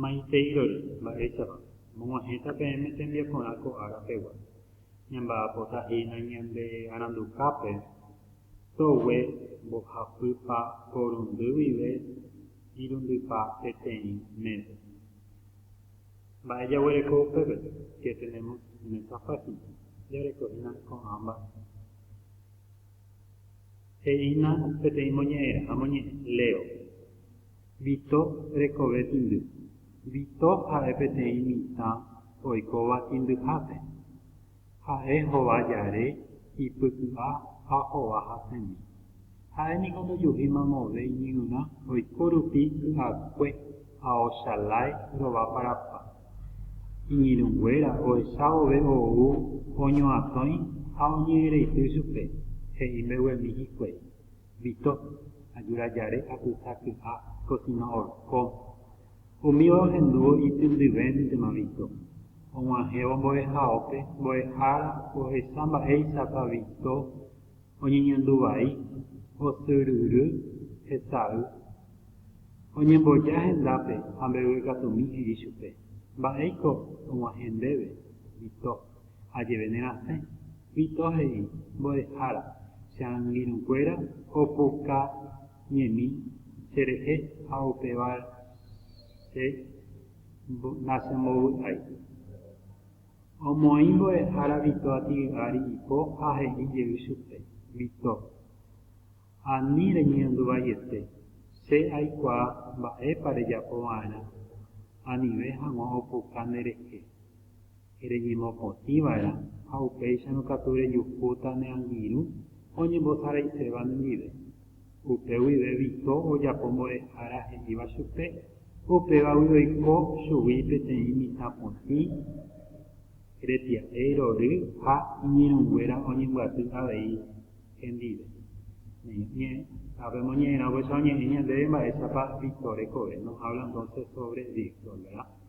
Maiteirory, mba'éichapa, mog̃uahẽta peẽme tembiaporã ko ára pegua. Ñamba'apota hína ñande arandukápe, togue, mbohapýpa, porundy guive, irundypa peteĩ mése. Mba'e jaguereko upépe? Que tenemos en esta página? Jareko hína ko'ã mba'e. He'ína peteĩ moñe'ẽra ha moñe'ẽ, léo. Vito rekove tindy. Vito ha'e peteĩ mitã oikóva tindyhápe. Ha'e hova jare, ipyky'a ha hova hasẽmi. Ha'e niko ndojuhíma move iñirũrã oiko rupi ky'akue ha ochalái rovaparapa. Iñirũnguéra ohecha vove ou oñoatõi ha oñe'ẽreity chupe, he'i mbeguemi hikuái. Vito, ajura jare apyta kyha kosina orkóme. Umíva ohendúvo ityndyvéntema Vito. Og̃uahẽvo mbo'ehaópe, mbo'ehára ohecha mba'éichapa Vito oñeñandu vai, osyryry, hesay. Oñemboja hendápe ha mbeguekatumi he'i chupe, Mba'éiko og̃uahẽ ndéve, Vito. Ha jeve nerasẽ, Vito he'i, Mbo'ehára, che angirũkuéra opoka ñemi che rehe ha upéva che nachembovy'ái. Omoĩ mbo'ehára Vito atygy'ári ipo ha he'i jey chupe, Vito, ani reñe'ẽndu vaiete, che aikuaa mba'épa rejapo va'erã anive hag̃ua opoka nde rehe. reñemopotĩ va'erã ha upéicharõ katu rejuhúta ne angirũ oñembosaraiséva nendive. Upe guive Vito ojapo mbo'ehára he'íva chupe, upégagui oiko chugui peteĩ mitã potĩ retia'e rory ha iñirũnguéra oñembyaty avei hendive. Neño ñe'ẽ, ápe moñe'ẽrã upéicha oñe'ẽ ñandéve mba'éichapa Vito rekove, nos habla entonces sobre Víctor, verá.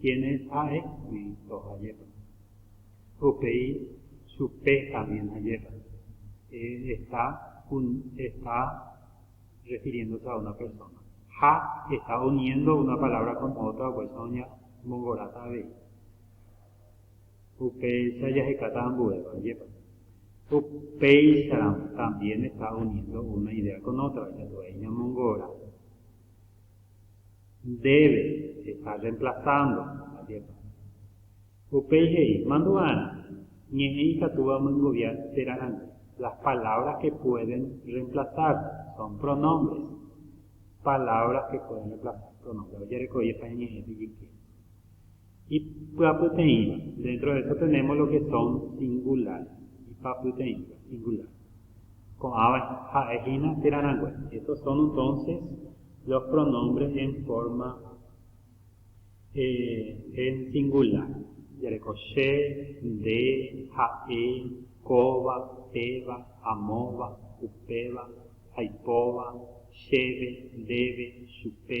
Quiénes ha'égui ndohajépa. Upéi chupe también ajépa. Está un, está refiriéndose a una persona. Ha está uniendo una palabra con otra upéicha oñemongoráta avei. Upéicha jahekáta ambuéva, ajépa. Upéicharamo también está uniendo una idea con otra, ikatuái ñamongora. Ndéve, estás reemplazando, ajépa. Upéi he'i, Mandu'arã, ñe'ẽ ikatúva omyengovia térã rãngue. Las palabras que pueden reemplazarse son pronombres. Palabras que pueden reemplazarse, pronombres. Ojerekoipa ñe'ẽme ijyke. Ipyapyteĩva, dentro de eso tenemos lo que son singulares, ipapyteĩva, singular. Ko'ãva ha'e hína térã rangue. Estos son entonces los pronombres en forma eh, en singular. Jareko che, nde, ha'e, kóva, péva, amóva, upéva, aipóva, chéve, ndéve, chupe,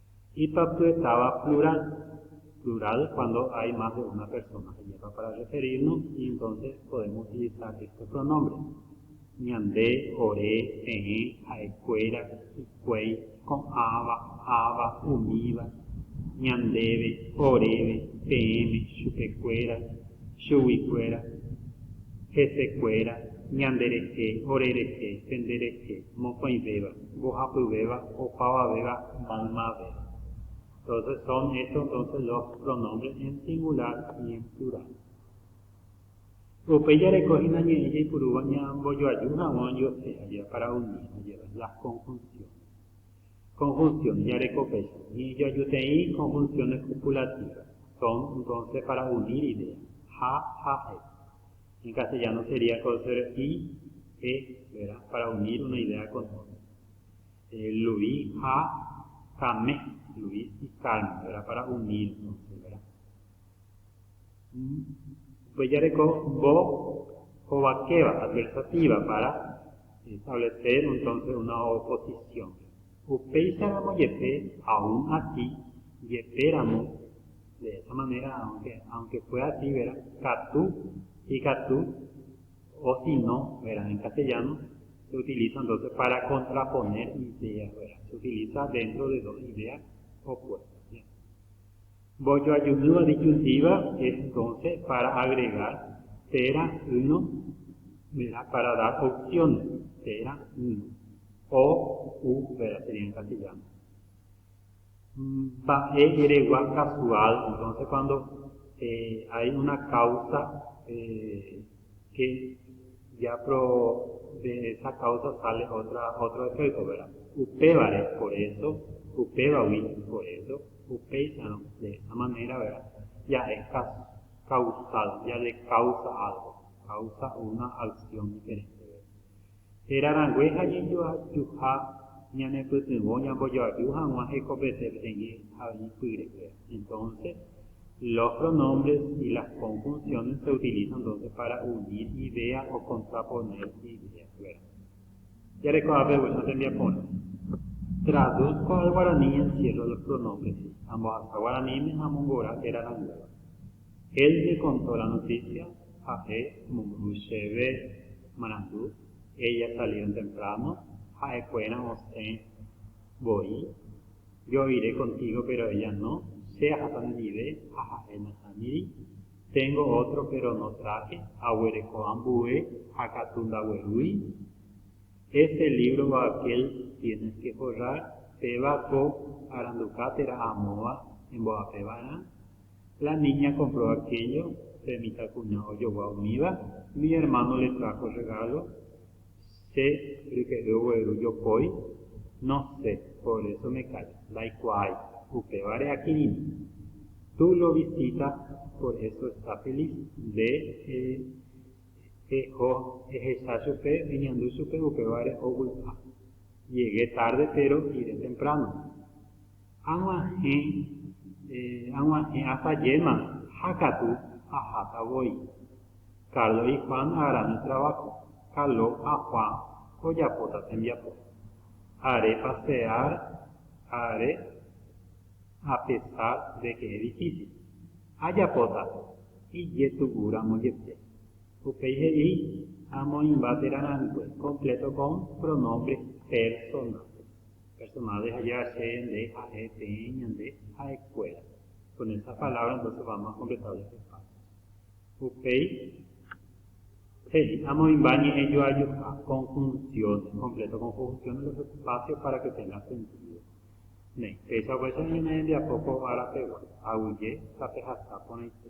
Ipyapy'etáva plural. Plural cuando hay más de una persona. Ajépa para referirnos y entonces podemos utilizar estos pronombres, ñande, ore, peẽ, ha'ekuéra, hikuái, ko'ãva, áva, umíva, ñandéve, oréve, peẽme, chupekuéra, chuguikuéra, hesekuéra, ñanderehe, orerehe, penderehe, mokõivéva. mbohapyvéva opavavéva maymave. Entonces son hecho entonces los pronombres en singular y en plural. Upéi jareko hína ñe'ẽ jaipurúva ñambojoaju haguã ojuehe ha japara umi ha jeva las conjunciones. Conjunciones jareko péicha ñe'ẽjoajuteĩ conjunciones copulativas, son entonces para unir ideas, ha, ha'e. En castellano sería coser i e, verá, para unir una idea con otra. Eh, Luis ha Came, Luis y Carmen, verá, para unir, entonces, verá. Upéi jareko bo hovakéva, adversativa, para establecer, entonces, una oposición. Upéicharamo jepe aún ati jepe ramo, de esa manera, aunque, aunque fue así, vera, katu, ikatu, o si no, vera, en castellano se utiliza entonces para contraponer ideas, vera, se utiliza dentro de dos ideas opuestas. Mbojoajúva disyuntíva entónse pára agregar térã yno g̃uarã pára dar opciones térã yno. O, u vera sería en castellano. Mba'e eregua casual entónse cuando hay una causa. che japrove esa káusa sale ótra ótro efékto, verá. Upévare por éso, upévagui por éso, upéicharõ de esa manéra, verá, ja'e kausal, jadekausa álgo, kausa una aksión diferénte, verá. Héra rangue ha ñejoajuha ñanepytyvõ ñambojoaju hag̃ua hekopete peteĩ haipy rehe. Entonce, los pronombres y las conjunciones se utilizan entonces para unir ideas o contraponer ideas, ¿verdad? Jareko ápe upéicha tembiaporã. Traduzco al guaraní y encierro los pronombres, ambohasa guaraníme ha amongora héra ranguéva. Él me contó la noticia, ha'e omombyry chéve marandu, ella salieron temprano, ha'ekuéra osẽ voi, yo iré contigo pero ella no, che aháta nendive ha ha'e nahániri, tengo otro pero no traje, aguereko ambue ha katu ndaguerúi, ese libro Baquel tienes que forrar, péva ko aranduka térã amóva embo'apeva'erã, La niña compró aquello, pe mitãkuña ojogua umíva, mi hermano le trajo regalo, che ryke'y ogueru jopói, no sé, por eso me callo, ndaikuaái, upévare akirirĩ. Tú lo visita, por eso está feliz, nde eheho ehecha chupe, eñandu chupe, upévare ovy'a. Llegué tarde, pero iré temprano. Ag̃uahẽ, ag̃uahẽ asajéma ha katu aháta voi. Carlos y Juan agrane trabajo, Caló ha Juan ojapóta tembiapo. Are pasear are a pesar de que es difícil. Ajapóta ijetu'u ramo jepe. Upéi he'i amoĩmba térã rangue completo con pronombres personales. Personave ha jache nde ha'e peẽ ñande ha'e kuéra. Con esas palabras entonces vamos a completar los espacios. Upéi he'i amoĩmba ñe'ẽ joajuha, conjunciones, completo con conjunciones los espacios para que tenga sentido. Néi, peichagua che oñeme'ẽmbiapo ko ára pegua, aguyje tapehasa porãite.